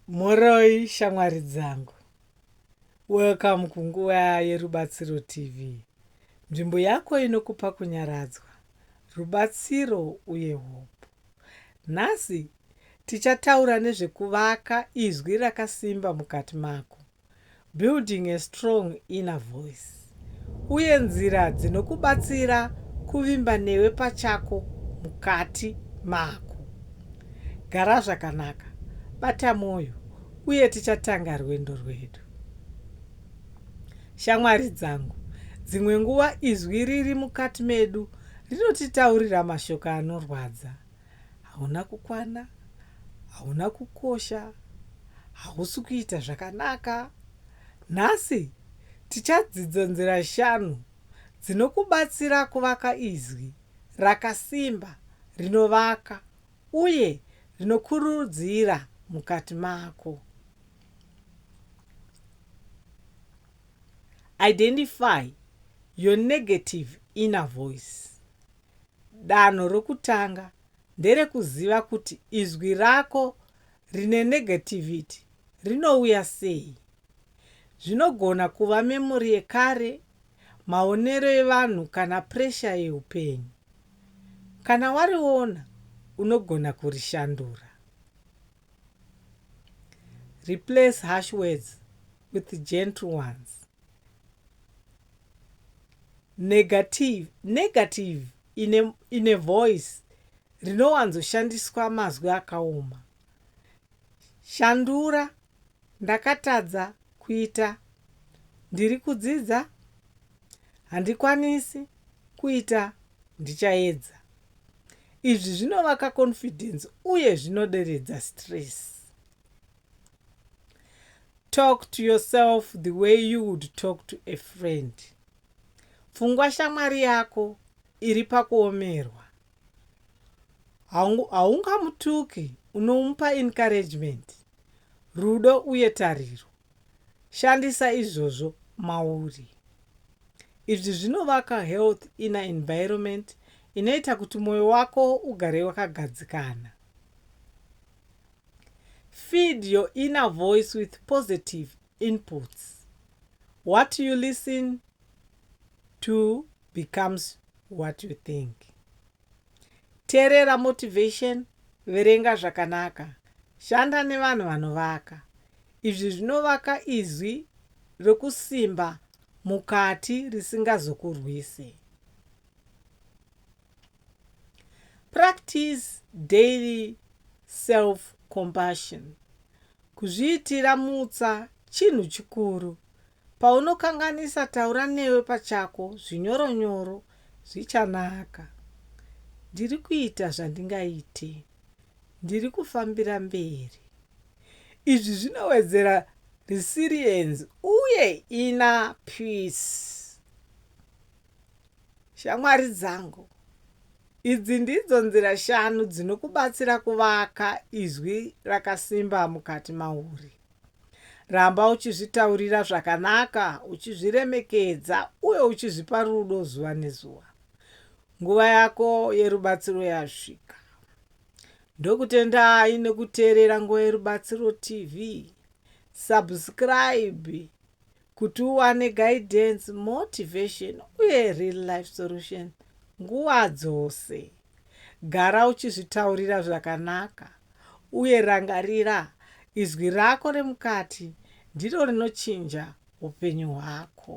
Mhoroi shamwari dzangu, welcome kunguva yerubatsiro TV, nzvimbo yako inokupa kunyaradzwa, rubatsiro uye hope. Nhasi tichataura nezvekuvaka izwi rakasimba mukati mako. Building a Strong Inner Voice uye nzira dzinokubatsira kuvimba newe pachako mukati mako. Gara zvakanaka, bata mwoyo, uye tichatanga rwendo rwedu. Shamwari dzangu, dzimwe nguva izwi riri mukati medu rinotitaurira mashoko anorwadza. Hauna kukwana, hauna kukosha, hausi kuita zvakanaka. Nhasi tichadzidza nzira shanu dzinokubatsira kuvaka izwi rakasimba, rinovaka, uye rinokurudzira mukati mako. Identify your negative inner voice. Danho rokutanga nderekuziva kuti izwi rako rine negativity rinouya sei. Zvinogona kuva memory yekare, maonero evanhu kana pressure yeupenyu. Kana wariona unogona kurishandura. Replace harsh words with gentle ones. Negative, negative in a, in a voice rinowanzoshandiswa mazwi akaoma. Shandura, ndakatadza kuita, ndiri kudzidza, handikwanisi kuita, ndichaedza. Izvi zvinovaka confidence uye zvinoderedza stress. Talk to yourself the way you would talk to a friend. Pfungwa shamwari yako iri pakuomerwa. Haungamutuki, unomupa encouragement, rudo uye tariro. Shandisa izvozvo mauri. Izvi zvinovaka health inner environment inoita kuti moyo wako ugare wakagadzikana. Feed your inner voice with positive inputs. What you listen to becomes what you think. Terera motivation, verenga zvakanaka, shanda nevanhu vanovaka. Izvi zvinovaka izwi rokusimba mukati risingazokurwisi. Practice daily self-compassion. Kuzviitira mutsa chinhu chikuru Paunokanganisa taura newe pachako zvinyoro nyoro zvichanaka. Ndiri kuita zvandingaite. Ndiri kufambira mberi. Izvi zvinowedzera resilience uye inner peace. Shamwari dzangu, idzi ndidzo nzira shanu dzinokubatsira kuvaka izwi rakasimba mukati mauri. Ramba uchizvitaurira zvakanaka, uchizviremekedza, uye uchizvipa rudo zuva nezuva. Nguva yako yerubatsiro yasvika. Ndokutendai nekuteerera Nguva Yerubatsiro TV. Subscribe kuti uwane guidance, motivation uye real life solution nguva dzose. Gara uchizvitaurira zvakanaka uye rangarira, izwi rako remukati ndiro rinochinja upenyu hwako.